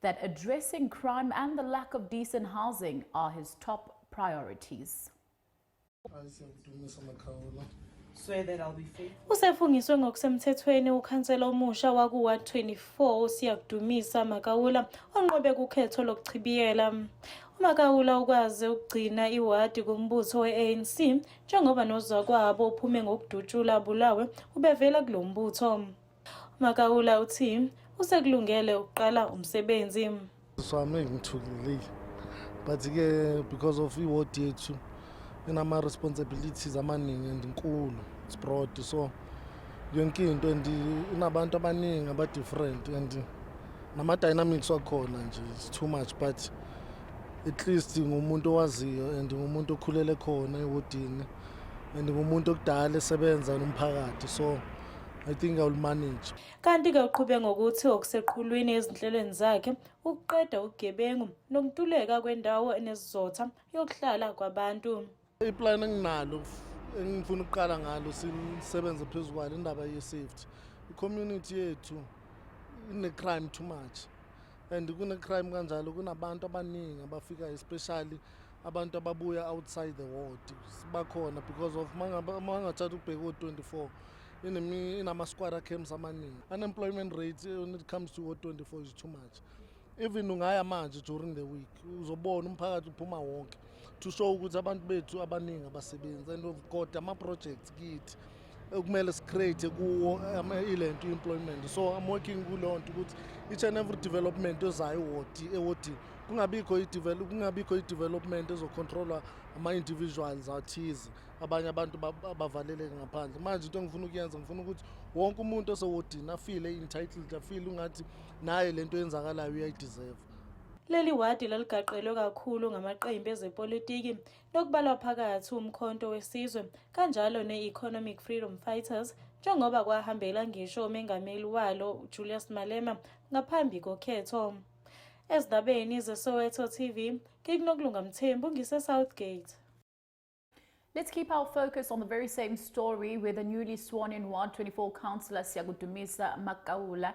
that addressing crime and the lack of decent housing are his top priorities. usefungiswe ngokusemthethweni ukhansela omusha waku-ward 24 usiyakudumisa makawula onqobe kukhetho lokuchibiyela umakawula ukwaze ukugcina iwadi kumbutho we-anc njengoba nozakwabo uphume ngokudutshula abulawe ubevela kulo mbutho UMakaula uthi usekulungele ukuqala umsebenzi. So I'm not ngithukile but ke because of iward yethu inama responsibilities amaningi and inkulu it's broad so yonke into and inabantu abaningi aba different and nama dynamics wakhona nje it's too much but at least ngumuntu owaziyo and ngumuntu okhulele khona ewodini and ngumuntu okudala esebenza nomphakathi so I think I will manage. Kanti-ke uqhube ngokuthi okuseqhulwini ezinhlelweni zakhe ukuqeda ubugebengu nokuntuleka kwendawo enesizotha yokuhlala kwabantu. Iplan enginalo engifuna ukuqala ngalo sisebenze phezu kwalo indaba ye-safety. I-community yethu ine-crime too much and kune-crime kanjalo kunabantu abaningi abafikayo especially abantu ababuya outside the ward bakhona because of mangathatha ukubheka o-24 inama-squara camps amaningi unemployment rate eh, when it comes to o-24 is too much even ungaya manje during the week uzobona umphakathi uphuma wonke to show ukuthi abantu bethu abaningi abasebenzi and kodwa ama-projects kithi ekumele sicreate kuwo um, ilento employment so i'm working kuleyo nto ukuthi each and every development ezayo ewodi ewodi kungabikho kungabikho i-development ezocontrolwa ama-individuals athize abanye abantu bavaleleke ngaphandle manje into engifuna ukuyenza ngifuna ukuthi wonke umuntu osewodini afile entitled afile ungathi naye le nto yenzakalayo uyayideserve Leli wadi laligaqelwe kakhulu ngamaqembu ezepolitiki okubalwa phakathi uMkhonto weSizwe kanjalo ne-Economic Freedom Fighters njengoba kwahambela ngisho umengameli walo Julius Malema ngaphambi kokhetho. Ezindabeni zeSoweto TV, ngikunokulunga Mthembu ngise-Southgate. Let's keep our focus on the very same story where the newly sworn in Ward 24 councillor Siyakudumisa Makawula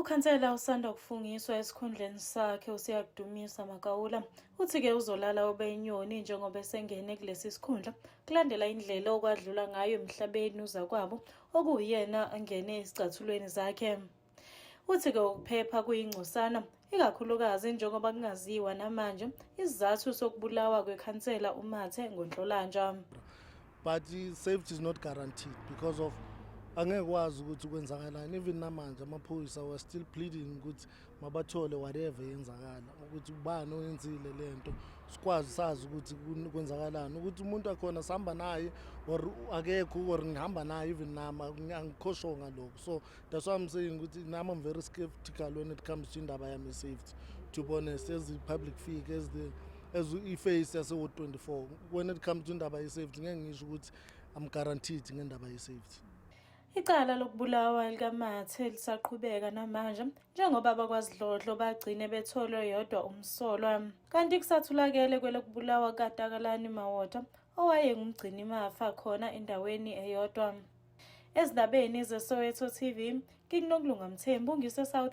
Ukhansela usanda kufungiswa esikhundleni sakhe uSiyakudumisa Makaula uthi-ke uzolala obeyinyoni njengoba esengene kulesi sikhundla kulandela indlela okwadlula ngayo emhlabeni uzakwabo okuwuyena angene ezicathulweni zakhe uthi-ke ukuphepha kuyingcosana ikakhulukazi njengoba kungaziwa namanje isizathu sokubulawa kwekhansela umathe ngonhlolanja but safety is not guaranteed because of angeke kwazi ukuthi kwenzakalani even namanje amaphoyisa were still pleading ukuthi mabathole whatever yenzakala ukuthi ubani oyenzile lento sikwazi sazi ukuthi kwenzakalani ukuthi umuntu akhona sihamba naye or akekho or ngihamba naye even nama angikhosho ngalokho so that's why i'm saying ukuthi nami i'm very skeptical when it comes to indaba yami safety to be honest as the public figure as the as i-face yasewo 24 when it comes to indaba ye-safety ngeke ngisho ukuthi i'm guaranteed ngendaba ye-safety Icala lokubulawa likaMathe lisaqhubeka namanje njengoba abakwaZidlodlo bagcine betholwe yodwa umsolwa. Kanti kusathulakele kwelokubulawa kukaTakalani Mawota owayengumgcinimafa khona endaweni eyodwa. Ezindabeni zeSoweto TV, ngikuNokulunga Mthembu ngiseSouth